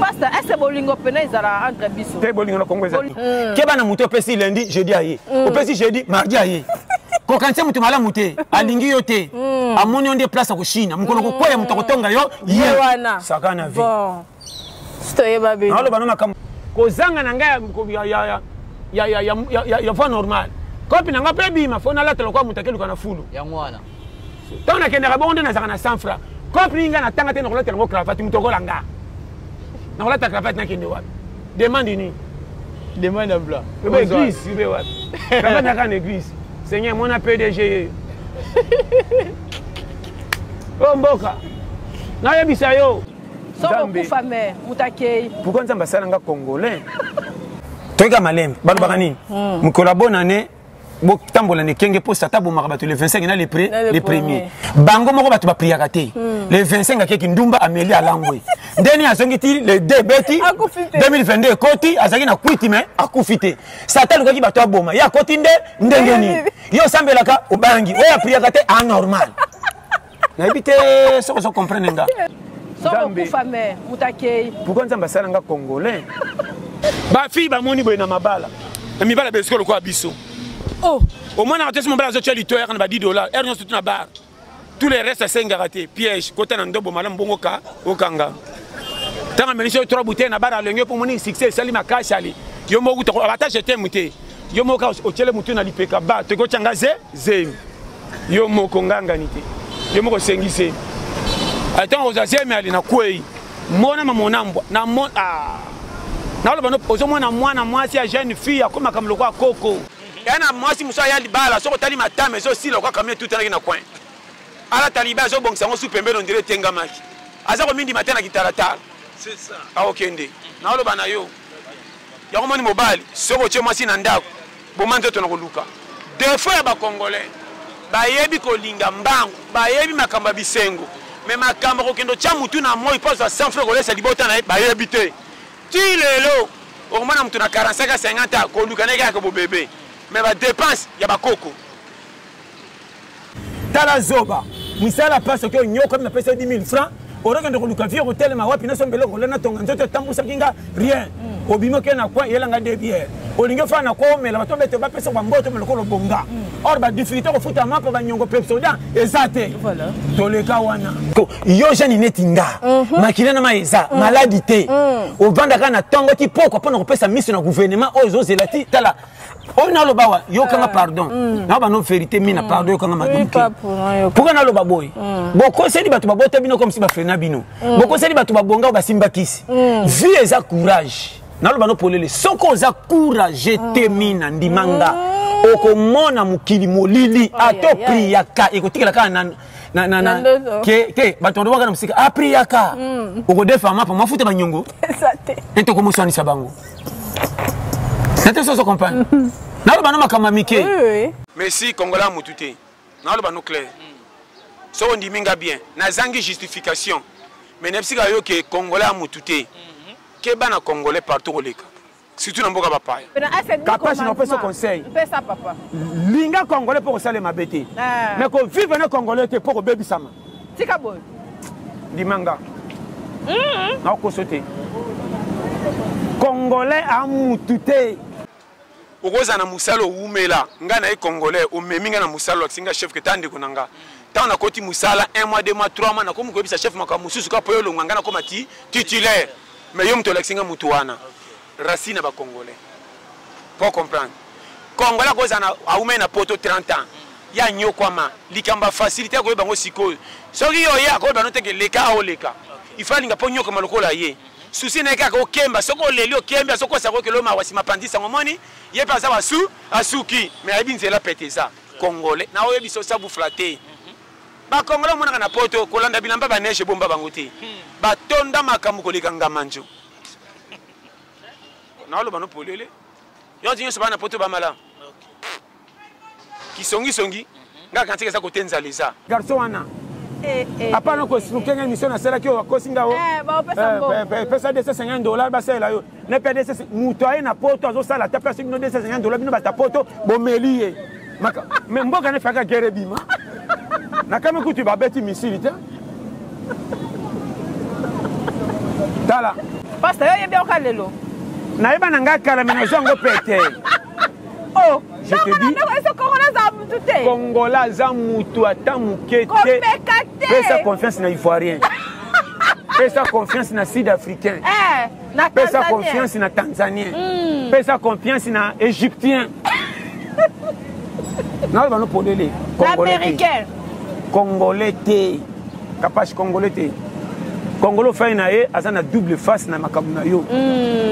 pasta ese bolingo pena ezala entre biso te bolingo na kongo ezali hmm. keba na moto opesi lundi jeudi aye hmm. opesi jeudi mardi aye kokanisa moto malamu te alingi yo te hmm. amoni yo nde place akoshina mokolo kokwea moto akotonga yo ye saka na vie toyeba bino aloba na makambo kozanga na ngai ya voie normale kopi na ngai mpe ebima fo nalatela kwa moto akeluka na fulu yango wana ntango nakendaka bongo nde nazalaka na 100 franc compli ngai natanga te nakolatela yango cravate moto okola nga nakolata cravate nakende wapi demande nini demande ya bla obe église obe wapi cravate naka na église seigneur mona pdg yeyo oyo mboka nayebisa yo sokokufa me moto akei pourkoi nzambe asala nga congolais toyika malembe balobaka nini mokolo ya bonane botambola na ekenge mpo sata abomaka bato le 25 na le premier bango moko bato bapriaka te hmm. le 25 akeki ndumba ameli alangwe ndeni azongi ti le d ebeti 2022 ekoti azalaki na kwiti me akufi te sata alukaki bato aboma ye akoti nde ndenge nini yo osambelaka obangi oyo apriaka te anormal nayebi te soki ozo comprendre nga sokokufa me moto akei pourkoi nzambe asala nga congolais bafille bamoni boye na mabala na mibala besiko lokola biso oh. omonaka te so mobala azotya lito yaka na ba 10 dollar ere nyonso tu na bar tous les restes asengaka te piège kota na ndobo malamu bongo ka okanga ntango amelisi yo trois bouteille na bar alongi yo mpo omoni succès esali makasi ali yo moko kuta abatage etemu te yo moko kaka otyele motu na lipeka ba toki otya nga ze zemi yo moko ngangani te yo moko osengi zemi ntango ozwa zemi ali na kwei mona mamonambwa na mo ah. naloba no ozomona mwana mwasi ya jeune fille akomaka moloko ya koko ya na mwasi mosusu aya libala soki otali matama ezosila okwa kamio etutanaki na coin alata libala azobongisa yango su pembeni ondire etengamaki aza komindima te na kitalatala akokende naoloba na yo yango moni mobali soki otie mwasi na ndako boma nzoto na koluka defo ya bacongolais bayebi kolinga mbangu bayebi makambo ya bisengo me makambo kokende otya motu na moi mpo azwa sans frais kolesa libota na ye bayebi te ti lelo okomona motu na 45 a 50 a koluka na ye kaka bobebe me badepense ya bakoko tala zoba misala mpasi oke onyokwami napesa yo 10 000 franc okokende koluka vie okotelema wapi naso mbele okola natonga nzoto etambusaki nga rien mm. obimi oke na koi eyelanga de biere olingi ofana na koi omela bato bete bapesa bamboto omela okolo bonga mm. or badifficulté kofuta mapa banyongo pepsoda eza te toleka wana yo jani neti nga mhm. makila na mai eza mm. maladi te ovandaka na ntongo ti pokwa mpo na kopesa miso na guvernema oyo ezozela ti tala oyo oh, naloba wa yokanga eh. pardon mm. na bano verité mina mm. pardon yokanga maduke pourkui naloba boye mm. bokoseli bato babota bino komsi bafrena bino bokoseli bato babonga oyo basimba kisi vie eza courage naloba no polele soki oza courage te mina ndima nga okomona mokili molili ata opriyaka ekotikela kaka na na na na ke te bato wana waka na mosika apri ah, yaka hmm. okodefa mapa mafuta banyongo te tokomoswanisa bango na te soso comprendre hmm. naloba na makambo ya mike messi kongola motu te naloba no claire soki ondimi nga bien nazangi justification mais na bisika yo ke kongola ya motu te mhm. keba na congolais partout koleka surtout na mboka bapaya kapashi napesa conseil linga congolais mpo kosala mabe te ah. mais kovivre na congolais te mpo kobebisama tika boye ndimanga mm-hmm. nakokoso te congolais amutu te okozala na mosala owumela ngai na ye congolais omemi ngai na mosala olakisi ngai chef keta ndeko na ngai ntango nakoti mosala 1 mois 2 mois 3 mois nakomi koyebisa chef makambo mosusu kaka mpo yo olonga ngai nakoma ti titulaire mais yo moto olakisi nga moto wana racine ya bacongolais po comprendre congolais akozala aumai na poto 30 ans ye anyokwama likambo ya facilité ya koyeba yango sikoyo soki yo oye akoyeba no teke leka aoleka ifo alinga mpo nyokoma lokola ye susi na ye kaka okemba soki oleli okembi azokosa kokelo mawa nsima apandisi yango omoni ye mpe aza wasu asuki me ayebi nzela pete eza congolais na oyebi sosa bufla te ba congolais omonaka na poto kolanda bilamba ba neige ebomba bango te hmm. batonda makambo koleka ngamanjo naoloba no polele yoti nyonso bana poto bamala kisongisongi mhm. nga kantika eza kote nzala eza garçon wana eh, eh, apana eh, koexplike nga émission nasalaki oyo akosi nga o pesa 250 dollar basalela yo na pdss moto aye na poto azosala ata place bino 250 dola bino bata poto bomeli ye me mboka na efaka gere ebima nakami kutu babeti misili te tala pasta yo yebi oka lelo nayeba na ngai kala me nazwa yango pete oh, je te dis kongola aza motu ata moke te pesa confiance na ivoirien pesa confiance na sud africain eh. pesa confiance na tanzanien mm. pesa confiance na égyptien naloba no polele américain congolais te kapashi congolais te congolo fai na ye aza na double face na makambo na yo mm.